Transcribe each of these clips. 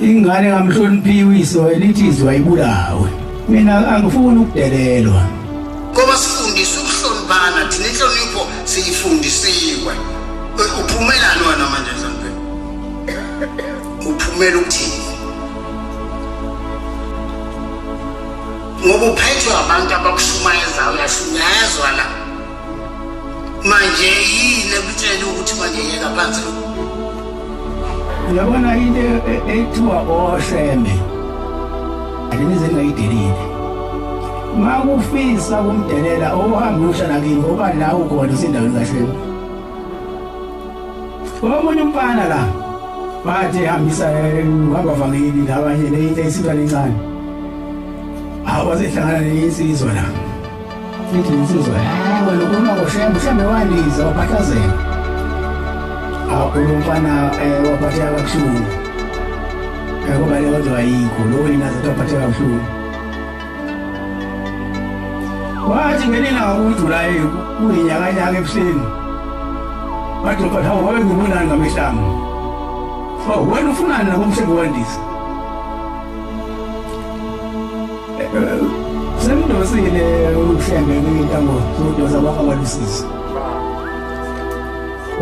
ingane ngamhloniphi uyise wayelithi izwa ibulawe mina angifuni ukudelelwa ngoba sifundisa ukuhloniphana thina inhlonipho siyifundisiwe uphumelani wena manje nhlonipheni uphumela ukuthini ngoba uphethwe abantu abakushumayezayo uyashunyayezwa la manje yini ekutshela ukuthi manje yeka phansi lo uyabona into e- e- ekuthiwa osheme andinize ngayidelile ma kufisa kumdelela ohambe ushana kimi ngoba la ukhona usendaweni kashema omunye umfana la bathi hambisa eh, uhamba vangeli labanye leyinto isintwana encane awasehlangana neyinsizwa la Sithi insizwa, hayi wena ukhuluma ngoshembe, ushembe waliza waphahlazela. Akhuluma mfana eh waphatheka kabuhlungu. Yabo bale kodwa ayikho, lo wena zathi waphatheka kabuhlungu. Wathi ngenina ngokujulaye kuyinyakanyaka ebuhleni. Wathi kodwa hawu wabe ngibonani ngamehlanga. Oh, wena ufunani nakumshebe wandisa? Semdosile uhlenge intambo zodosa bakho abalusizi.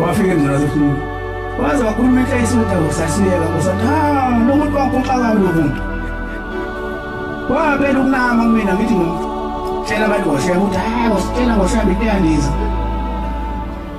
Wafike njalo sifuna. Waze wakhuluma into eyisinto kusasiyeka kusathi ha lomuntu wakho uxaka lomuntu. Wabela ukunama kumina ngithi ngimtshela abantu ngoshe ukuthi hayi ngositshela ngoshabi into yandiza.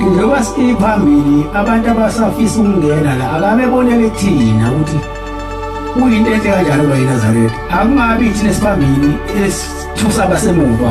Njengoba siphambili abantu abasafisa ukungena la akabebonele thina ukuthi kuyinto enhle kanjalo lo yiNazaretha akungabi thina siphambili esithusa abasemuva